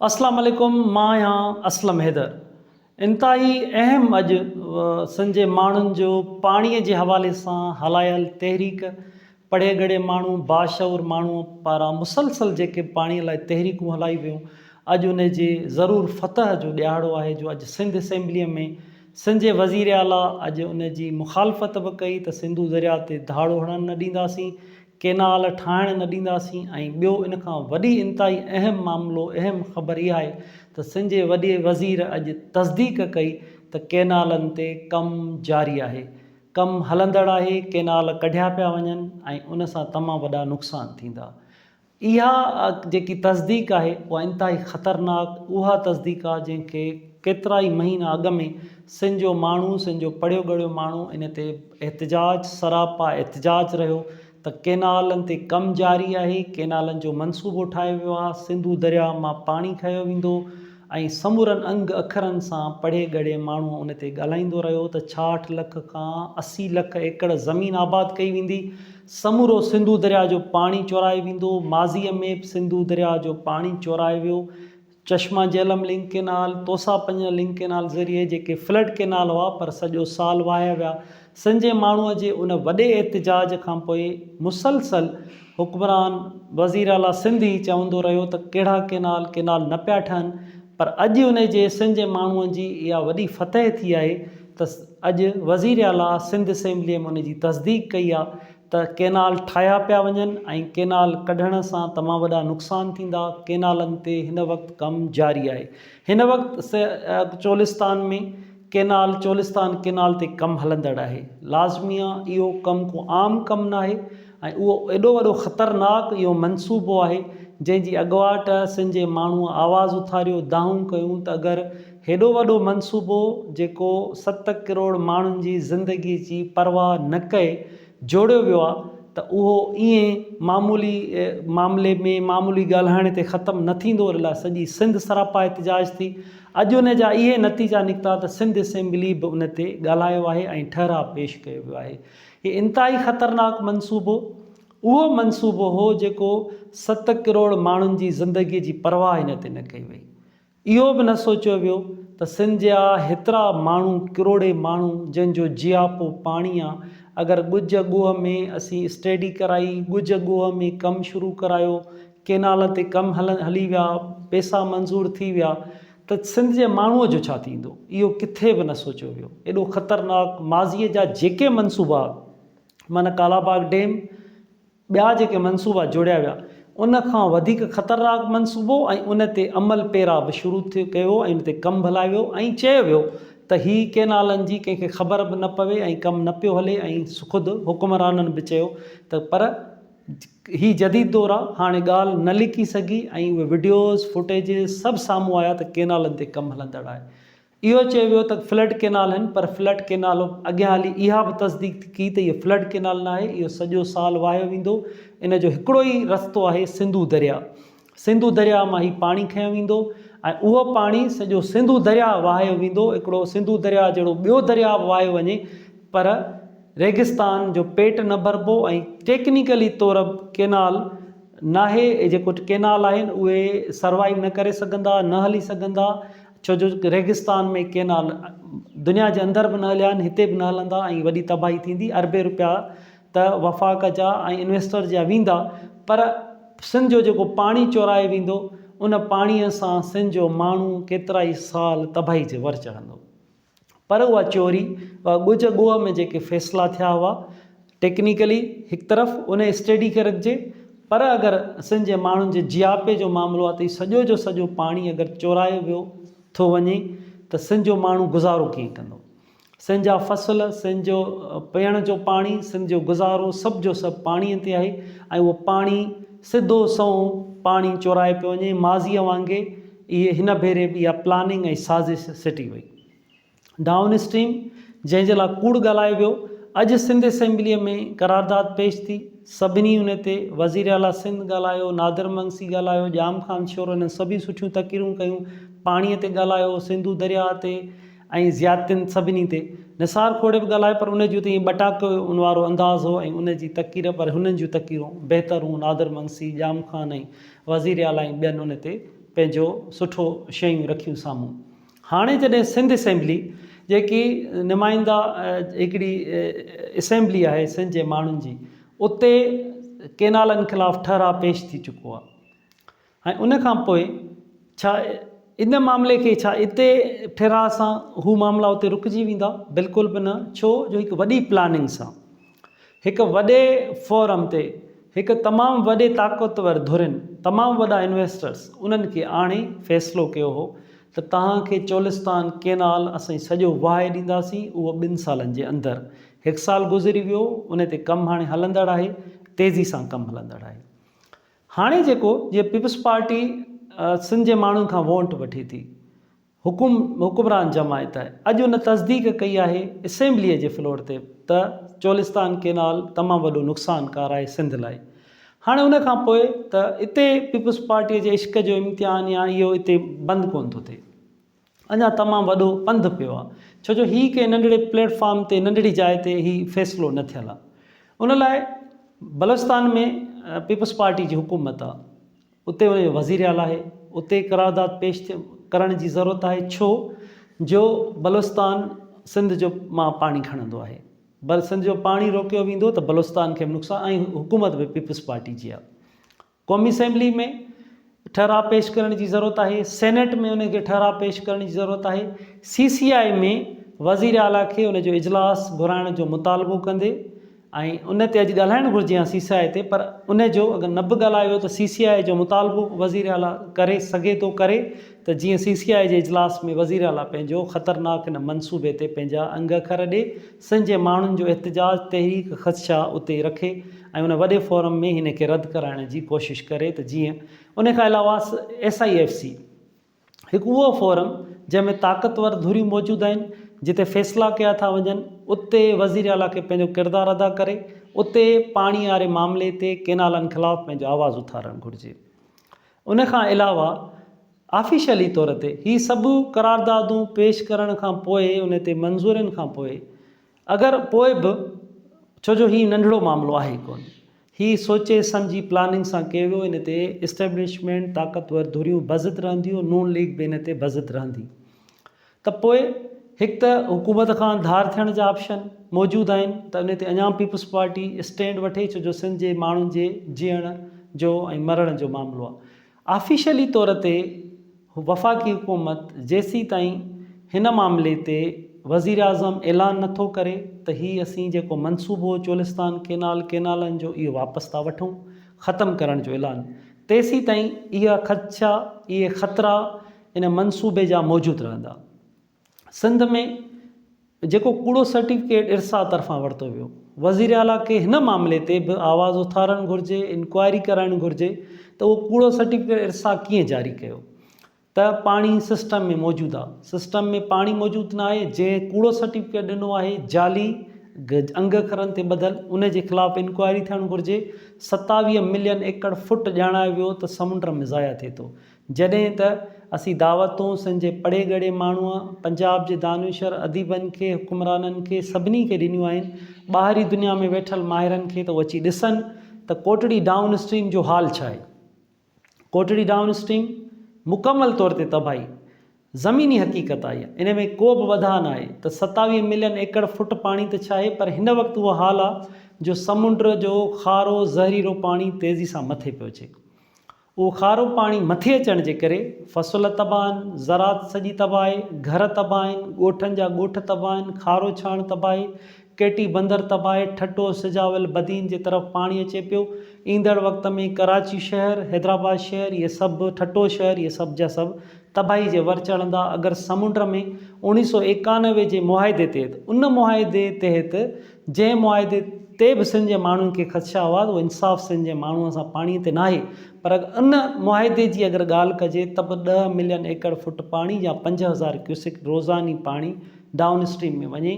اسلام عليڪم مان آهيان اسلم حيدر انتهائي اهم اڄ سن جي ماڻهن جو پاڻي جي حوالي سان هلايل تحريڪ پڙهي ڳڙهي ماڻهو باشعور ماڻهو پاران مسلسل جيڪي پاڻي لاء تحريڪون هلائي ويون اڄ ان جي ضرور فتح جو ڏيهاڙو آهي جو اڄ سنڌ اسيمبلي ۾ سن جي وزير اعليٰ اڄ ان جي مخالفت به ڪئي ته سنڌو درياء تي ڌاڙو هڻڻ نه ڏينداسين ڪينال ٺاهڻ نه ڏينداسين ۽ ٻيو ان کان وڏي انتهائي اهم معاملو اهم خبر اها آهي ته سن جي وڏي وزير اڄ تصديق ڪئي ته ڪينالن تي ڪم جاري آهي ڪم هلندڙ آهي ڪينال ڪڍيا پيا وڃن ۽ ان سان تمام وڏا نقصان ٿيندا اها جيڪي تصديق آهي اها انتهائي خطرناڪ اها تصديق آهي جنهن کي ڪيترائي مهينا اڳ ۾ سن جو ماڻهو سن جو پڙهيو ڳڙهيو ماڻهو ان تي احتجاج سراپا احتجاج رهيو ته ڪينالن تي ڪم جاري آهي ڪينالن جو منصوبو ٺاهيو ويو آهي سنڌو درياء مان پاڻي کنيو ويندو ۽ سمورن انگ اکرن سان پڙهي ڳڙهي ماڻهو ان تي ڳالهائيندو رهيو ته ڇاهٺ لک کان اسي لک ايڪڙ زمين آباد ڪئي ويندي سمورو سنڌو درياء جو پاڻي چورائي ويندو ماضي ۾ به سنڌو درياء جو پاڻي چورائي ويو چشما جهلم لنڪ ڪينال، توسا پنجن لنڪ ڪينال ذريعي جيڪي فلڊ ڪينال هئا پر سڄو سال وهايا ويا. سنجهي ماڻهوء جي ان وڏي احتجاج کان پوء مسلسل حڪمران وزير اعليٰ سنڌ هي چوندو رهيو ته ڪهڙا ڪينال ڪينال نه پيا ٺهن پر اڄ انهي جي سنجهي ماڻهوء جي اها وڏي فتح ٿي آهي ته اڄ وزير اعليٰ سنڌ اسيمبليء ۾ ان جي تصديق ڪئي آهي ته ڪينال ٺاهيا پيا وڃن ۽ ڪينال ڪڍڻ سان تمام وڏا نقصان ٿيندا، ڪينالن تي هن وقت ڪم جاري آهي، هن وقت چولستان ۾ ڪينال چولستان ڪينال تي ڪم هلندڙ آهي، لازميا اهو ڪم ڪو عام ڪم ناهي ۽ اهو ايڏو وڏو خطرناڪ اهو منصوبو آهي جنهن جي اڳواٽ سنڌ جي ماڻهو آواز اٿاريو، دانهون ڪيون ته اگر هيڏو وڏو منصوبو جيڪو ست ڪروڙ ماڻهن جي زندگي جي پرواهه نه ڪئي جوڙيو ويو آهي ته اهو ائين معمولي معاملي ۾ معمولي ڳالهائڻ تي ختم نه ٿيندو ان لاء سڄي سنڌ سراپا احتجاج ٿي اڄ ان جا اهي نتيجا نڪتا ته سنڌ اسيمبلي به ان تي ڳالهايو آهي ۽ ٺهراء پيش ڪيو ويو آهي هي انتهائي خطرناڪ منصوبو اهو منصوبو هو جيڪو ست ڪروڙ ماڻهن جي زندگي جي پرواهه ان تي نه ڪئي وئي اهو به نه سوچيو ويو ته سنڌ جا هيترا ماڻهو ڪروڙين ماڻهو جن جو جياپو پاڻي آ اگر ڳجهه ڳوهه ۾ اسين اسٽيڊي ڪرائي ڳجهه ڳوهه ۾ ڪم شروع ڪرايو ڪينال تي ڪم هلي ويا پيسا منظور ٿي ويا ته سنڌ جي ماڻهو جو ڇا ٿيندو اهو ڪٿي به نه سوچيو ويو ايڏو خطرناڪ ماضي جا جيڪي منصوبا من ڪالاباغ ڊيم ٻيا جيڪي منصوبا جوڙيا ويا ان کان وڌيڪ خطرناڪ منصوبو ۽ ان تي عمل پيرا به شروع ٿيو ڪيو ويو ۽ ان تي ڪم به هلايو ويو ۽ چيو ويو ته هي ڪينالن جي ڪنهن کي خبر به نه پوي ۽ ڪم نه پيو هلي ۽ خود حڪمرانن به چيو ته پر هي جديد دور آ هاڻي ڳالهه نه لڪي سگهي ۽ اهي وڊيوز فوٽيجز سڀ سامهون آيا ته ڪينالن تي ڪم هلندڙ آهي اهو چيو ويو ته فلڊ ڪئنال آهن پر فلڊ ڪئنال اڳيان هلي اها به تصديق ٿي ڪئي ته هي فلڊ ڪئنال ناهي اهو سڄو سال واهيو ويندو ان جو هڪڙو ئي رستو آهي سنڌو درياء سنڌو درياء مان هي پاڻي کنيو ويندو ۽ اهو پاڻي سڄو سنڌو درياء واهيو ويندو هڪڙو سنڌو درياء جهڙو ٻيو درياء به واهيو وڃي پر ريگستان جو پيٽ نه ڀربو ۽ ٽيڪنيڪلي طور به ڪئنال ناهي جيڪو ڪئنال آهن اهي سروائيو نه ڪري سگهندا نه هلي سگهندا ڇو جو ريگستان ۾ ڪينال دنيا جي اندر به نه هليا آهن هتي به نه هلندا ۽ وڏي تباهي ٿيندي اربين روپيا ته وفاق جا ۽ انويسٽر جا ويندا پر سنڌ جو جيڪو پاڻي چورايو ويندو ان پاڻي سان سنڌ جو ماڻهو ڪيترائي سال تباهي جي ور چڙهندو. پر اها چوري اها ڳجهه ڳوهه ۾ جيڪي فيصلا ٿيا هئا ٽيڪنيڪلي هڪ طرف ان جي اسٽيڊي کي رکجي پر اگر سنڌ جي ماڻهن جي جياپي جو معاملو آهي ته سڄو جو سڄو پاڻي اگر چورايو ويو ٿو وڃي ته سنڌ جو ماڻهو گذارو ڪيئن ڪندو سنڌ جا فصل سنڌ جو پيئڻ جو پاڻي سنڌ جو گذارو سڀ جو سڀ پاڻي تي آهي ۽ اهو پاڻي سڌو سنئون پاڻي چورائي پيو وڃي ماضي وانگي اهي هن ڀيري به اها پلاننگ ۽ سازش سٽي وئي. ڊائون اسٽريم جنهن جي لاء ڪوڙ ڳالهايو ويو، اڄ سنڌ اسيمبليء ۾ قرارداد پيش ٿي، سڀني ان تي وزير اعليٰ سنڌ ڳالهايو، نادر مگسي ڳالهايو، ڄام خان شورو انهن سڀيئي سٺيون تقريرون ڪيون، پاڻيء تي ڳالهايو، سنڌو درياء تي ۽ زيادتين سڀني تي. نثار کوڙي به ڳالهايو پر ان جو ته ائين ٻٽاڪن وارو انداز هو ۽ ان جي تقرير پر هنن جون تقريرون بهتر هون، نادر مگسي، ڄام خان ۽. وزير اعليٰ ۽ ٻين ان تي پنهنجو سٺو شيون رکيون سامهون. هاڻي جڏهن سنڌ اسيمبلي جيڪي نمائنده هڪڙي اسيمبلي آهي سنڌ جي ماڻهن جي اتي ڪينالن خلاف ٺهراء پيش ٿي چڪو آهي ۽ ان کان پوء ڇا ان معاملي کي ڇا اتي ٺهراء سان هو معاملا اتي رڪجي ويندا؟ بلڪل به نه ڇو جو هڪ وڏي پلاننگ سان هڪ وڏي فورم تي هڪ تمام وڏي طاقتور ڌرين، تمام وڏا انويسٽرز انهن کي آڻي فيصلو ڪيو هو ته توهان کي چولستان ڪينال اسين سڄو وهائي ڏينداسين اهو ٻن سالن جي اندر. هڪ سال گذري ويو ان تي ڪم هاڻي هلندڙ آهي تيزي سان ڪم هلندڙ آهي. هاڻي جيڪو جيئن پيپلز پارٽي سنڌ جي ماڻهن کان وونٽ وٺي ٿي. حڪم حڪمران جماعت اڄ ان تصديق ڪئي آهي اسيمبليء جي فلور تي ته چولستان ڪينال تمام وڏو نقصان ڪار آهي سنڌ لاء هاڻي ان کان پوء ته اتي پيپلز پارٽيء جي عشق جو امتحان يا اهو اتي بند ڪونه ٿو ٿئي اڃا تمام وڏو پنڌ پيو آهي ڇو جو هي ڪنهن ننڍڙي پليٽ فارم تي ننڍڙي جاء تي هي فيصلو نه ٿيل آهي ان لاء بلوچستان ۾ پيپلز پارٽي جي حڪومت آهي اتي وڃي وزيراعليٰ آهي اتي قرارداد پيش ڪرڻ جي ضرورت آهي ڇو جو بلوچستان سنڌ جو مان پاڻي کڻندو آهي بل سنڌ جو پاڻي روڪيو ويندو ته بلوچستان کي به نقصان ۽ حڪومت به پيپلز پارٽي جي آهي قومي اسيمبلي ۾ ٺهراء پيش ڪرڻ جي ضرورت آهي سينيٽ ۾ ان کي ٺهراء پيش ڪرڻ جي ضرورت آهي سي سي آء ۾ وزيراعليٰ کي ان جو اجلاس گهرائڻ جو مطالبو ڪندي ۽ ان تي اڄ ڳالهائڻ گهرجي ها سي سي آء تي پر ان جو اگر نه به ڳالهايو ويو ته سي سي آء جو مطالبو وزير اعليٰ ڪري سگهي ٿو ڪري ته جيئن سي سي آء جي اجلاس ۾ وزير اعليٰ پنهنجو خطرناڪ ان منصوبي تي پنهنجا انگ اکر ڏي سنڌ جي ماڻهن جو احتجاج تحريڪ خدشا اتي رکي ۽ ان وڏي فورم ۾ هن کي رد ڪرائڻ جي ڪوشش ڪري ته جيئن ان کان علاوه ايس آء ايف سي هڪ اهو فورم جنهن ۾ طاقتور ڌريون موجود آهن، جتي فيصلا ڪيا ٿا وڃن، اتي وزير اعليٰ کي پنهنجو ڪردار ادا ڪري اتي پاڻي واري معاملي تي ڪينالن خلاف پنهنجو آواز اٿارڻ گهرجي. ان کان علاوه آفيشلي طور تي هي سڀ قراردادون پيش ڪرڻ کان پوء ان تي منظورين کان پوء اگر پوء به ڇو جو هي ننڍڙو معاملو آهي ڪونه. هي سوچي سمجهي پلاننگ سان ڪيو ويو ان تي اسٽيبلشمينٽ طاقتور ڌريون بضد رهنديون نون ليگ به ان تي بضد رهندي ته پوء هڪ ته حڪومت کان ڌار ٿيڻ جا آپشن موجود آهن ته ان تي اڃان پيپلز پارٽي اسٽينڊ وٺي ڇو جو سنڌ جي ماڻهن جي جيئڻ جو ۽ مرڻ جو معاملو آهي. آفيشلي طور تي وفاقي حڪومت جيسيتائين هن معاملي تي وزيراعظم اعلان نه ٿو ڪري ته هي اسين جيڪو منصوبو هو چولستان ڪينال، ڪينالن جو اهو واپس ٿا وٺون، ختم ڪرڻ جو اعلان، تيسيتائين اها خدشا، اهي خطرا ان منصوبي جا موجود رهندا. سنڌ ۾ جيڪو ڪوڙو سرٽيفڪيٽ ارسا طرفان ورتو ويو وزير اعليٰ کي هن معاملي تي به آواز اٿارڻ گهرجي انڪوائري ڪرائڻ گهرجي ته اهو ڪوڙو سرٽيفڪيٽ ارسا ڪيئن جاري ڪيو ته پاڻي سسٽم ۾ موجود آ سسٽم ۾ پاڻي موجود نه آهي جنهن ڪوڙو سرٽيفڪيٽ ڏنو آهي جعلي انگ اکرن تي ٻڌل ان جي خلاف انڪوائري ٿيڻ گهرجي ستاويهه ملين ايڪڙ فٽ ڄاڻايو ويو ته سمنڊ ۾ ضايع ٿئي ٿو جڏهن ته اسين دعوتون سن جي پڙهي ڳڙهي ماڻهوء، پنجاب جي دانشور اديبن کي، حڪمرانن کي، سڀني کي ڏنيون آهن. ٻاهرين دنيا ۾ ويٺل ماهرن کي ته هو اچي ڏسن ته ڪوٽڙي ڊائون اسٽريم جو حال ڇا آهي. ڪوٽڙي ڊائون اسٽريم مڪمل طور تي تباهي زميني حقيقت آهي. ان ۾ ڪو به وڌاء نه آهي ته ستاويهه ملين ايڪڙ فٽ پاڻي ته ڇاهي پر هن وقت اهو حال آهي جو سمنڊ جو کارو زهريلو پاڻي تيزي سان مٿي پيو اچي. اهو کارو پاڻي مٿي اچڻ جي ڪري فصل تباهه آهن، زراعت سڄي تباهه آهي، گهر تباهه آهن، ڳوٺن جا ڳوٺ تباهه آهن، کارو ڇاڻ تباهه آهي، ڪيٽي بندر تباهه آهي، ٺٽو، سجاول، بدين جي طرف پاڻي اچي پيو، ايندڙ وقت ۾ ڪراچي شهر، حيدرآباد شهر اهي سڀ ٺٽو شهر اهي سڀ جا سڀ تباهي جي ور چڙهندا اگر سمنڊ ۾ اوڻيهه سؤ ايڪانوي جي معاهدي تحت ان معاهدي تحت جنهن معاهدي تي به سنڌ جي ماڻهن کي خدشا هئا اهو انصاف سنڌ جي ماڻهن سان پاڻي تي ناهي پر ان معاهدي جي اگر ڳالهه ڪجي ته به ڏهه ملين ايڪڙ فٽ پاڻي يا پنج هزار ڪيوسڪ روزاني پاڻي ڊائون اسٽريم ۾ وڃي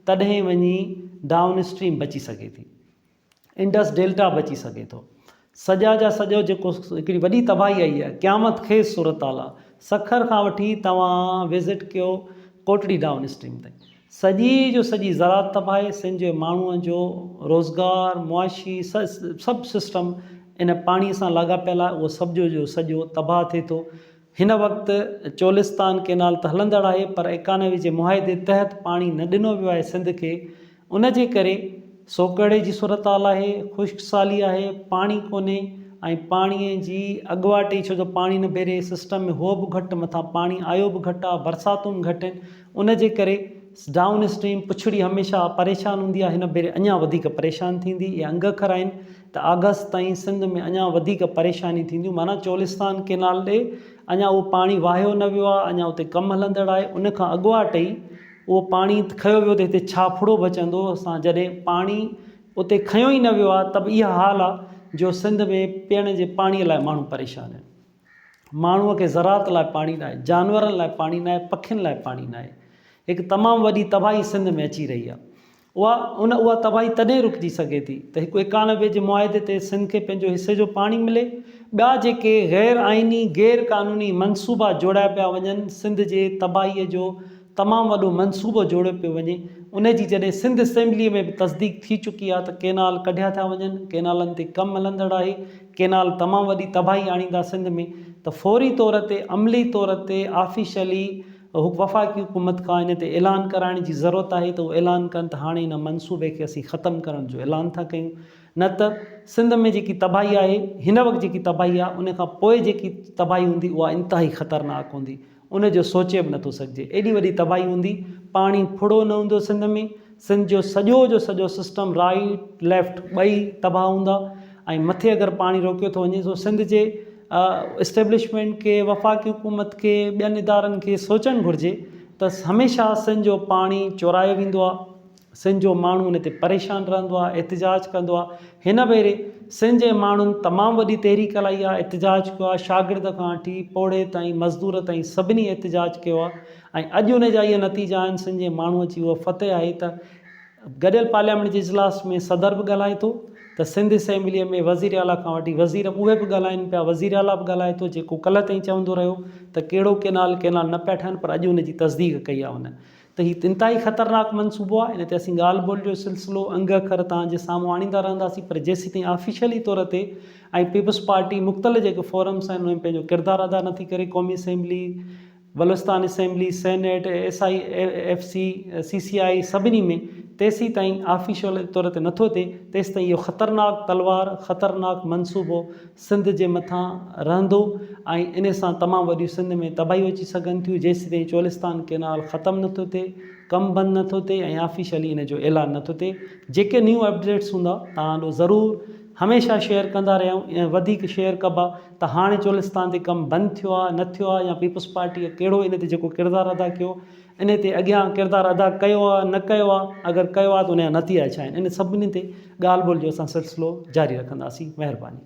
تڏهن وڃي ڊائون اسٽريم بچي سگهي ٿي انڊس ڊيلٽا به اچي سگهي ٿو. سڄا جا سڄو جيڪو هڪڙي وڏي تباهي آئي آهي قيامت خيز صورتحال آ سکر کان وٺي توهان وزٽ ڪيو ڪوٽڙي ڊائون اسٽريم تائين سڄي جو سڄي زراعت تباهي سنڌ جي ماڻهو جو روزگار معاشي سڀ سسٽم ان پاڻي سان لاڳاپيل آ اهو سڀ جو جو سڄو تباهه ٿي ٿو هن وقت چولستان ڪينال ته هلندڙ آهي پر ايڪانوي جي معاهدي تحت پاڻي نه ڏنو ويو آهي سنڌ کي ان جي ڪري سوڪهڙي جي صورتحال آهي خشڪ سالي آهي پاڻي ڪونهي ۽ پاڻي جي اڳواٽ ئي ڇو جو پاڻي نه ڀيري سسٽم ۾ هو به گهٽ مٿان پاڻي آيو به گهٽ آهي برساتون گهٽ آهن ان جي ڪري ڊائون اسٽريم پڇڙي هميشه پريشان هوندي آهي هن ڀيري اڃان وڌيڪ پريشان ٿيندي اهي انگ اکر آهن ته آگسٽ تائين سنڌ ۾ اڃان وڌيڪ پريشانيون ٿينديون معنيٰ چولستان ڪينال ڏي اڃان اهو پاڻي واهيو نه ويو آهي اڃان اتي ڪم هلندڙ آهي ان کان اڳواٽ ئي اهو پاڻي کنيو ويو ته هتي ڇا ڦڙو بچندو اسان جڏهن پاڻي اتي کنيو ئي نه ويو آهي ته به اها حال آهي جو سنڌ ۾ پيئڻ جي پاڻي لاء ماڻهو پريشان آهن ماڻهو کي زراعت لاء پاڻي نه آهي جانورن لاء پاڻي نه آهي پکين لاء پاڻي نه آهي هڪ تمام وڏي تباهي سنڌ ۾ اچي رهي آهي اها ان اها تباهي تڏهن رڪجي سگهي ٿي ته هڪ ايڪانوي جي معاهدي تي سنڌ کي پنهنجو حصي جو پاڻي ملي، ٻيا جيڪي غير آئيني، غير قانوني منصوبا جوڙيا پيا وڃن، سنڌ جي تباهي جو تمام وڏو منصوبو جوڙيو پيو وڃي، ان جي جڏهن سنڌ اسيمبلي ۾ به تصديق ٿي چڪي آهي ته ڪينال ڪڍيا ٿا وڃن، ڪينالن تي ڪم هلندڙ آهي، ڪينال تمام وڏي تباهي آڻيندا سنڌ ۾ ته فوري طور تي عملي طور تي آفيشلي وفاقي حڪومت کان ان تي اعلان ڪرائڻ جي ضرورت آهي ته هو اعلان ڪن ته هاڻي ان منصوبي کي اسين ختم ڪرڻ جو اعلان ٿا ڪيون نه ته سنڌ ۾ جيڪي تباهي آهي هن وقت جيڪي تباهي آهي ان کان پوء جيڪي تباهي هوندي اها انتهائي خطرناڪ هوندي ان جو سوچي به نٿو سگهجي ايڏي وڏي تباهي هوندي پاڻي ڦڙو نه هوندو سنڌ ۾ سنڌ جو سڄو جو سڄو سسٽم رائيٽ ليفٽ ٻئي تباهه هوندا ۽ مٿي اگر پاڻي روڪيو ٿو وڃي سو سنڌ جي اسٽيبلشمينٽ کي، وفاقي حڪومت کي، ٻين ادارن کي سوچڻ گهرجي ته هميشه سن جو پاڻي چورايو ويندو آهي، سن جو ماڻهو ان تي پريشان رهندو آهي، احتجاج ڪندو آهي، هن ڀيري سن جي ماڻهن تمام وڏي تحريڪ هلائي آهي، احتجاج ڪيو آهي، شاگرد کان وٺي پوڙهي تائين، مزدور تائين سڀني احتجاج ڪيو آهي ۽ اڄ ان جا اهي نتيجا آهن، سن جي ماڻهو جي اها فتح آهي ته. گڏيل پارليامينٽ جي اجلاس ۾ صدر به ڳالهائي ٿو ته سنڌ اسيمبليء ۾ وزير اعليٰ کان وٺي وزير اهي به ڳالهائين پيا، وزير اعليٰ به ڳالهائي ٿو جيڪو ڪلهه تائين چوندو رهيو ته ڪهڙو ڪينال ڪينال نه پيا ٺهن پر اڄ ان جي تصديق ڪئي آهي هن ته هي انتهائي خطرناڪ منصوبو آهي ان تي اسين ڳالهه ٻولهه جو سلسلو انگ اکر توهان جي سامهون آڻيندا رهنداسين پر جيسيتائين آفيشلي طور تي ۽ پيپلز پارٽي مختلف جيڪي فورمز آهن انهن ۾ پنهنجو ڪردار ادا نٿي ڪري قومي assembly Balochistan assembly, senate, S I F C, C C I سڀني ۾ تيسين تائين آفيشل طور تي نٿو ٿئي تيستائين اهو خطرناڪ تلوار، خطرناڪ منصوبو سنڌ جي مٿان رهندو ۽ ان سان تمام وڏيون سنڌ ۾ تباهيون اچي سگهن ٿيون جيستائين چولستان ڪينال ختم نٿو ٿئي، ڪم بند نٿو ٿئي ۽ آفيشلي ان جو اعلان نٿو ٿئي. جيڪي نيون اپڊيٽس هوندا توهان ڏو ضرور هميشه شيئر ڪندا رهيا آهيون ۽ وڌيڪ شيئر ڪبا. ته هاڻي چولستان تي ڪم بند ٿيو آهي نه ٿيو آهي يا پيپلز پارٽيء ڪهڙو ان تي جيڪو ڪردار ادا ڪيو ان تي اڳيان ڪردار ادا ڪيو آهي نه ڪيو آهي اگر ڪيو آهي ته ان جا نتيجا ڇا آهن ان سڀني تي ڳالهه ٻولهه جو اسان سلسلو جاري رکنداسين مهرباني.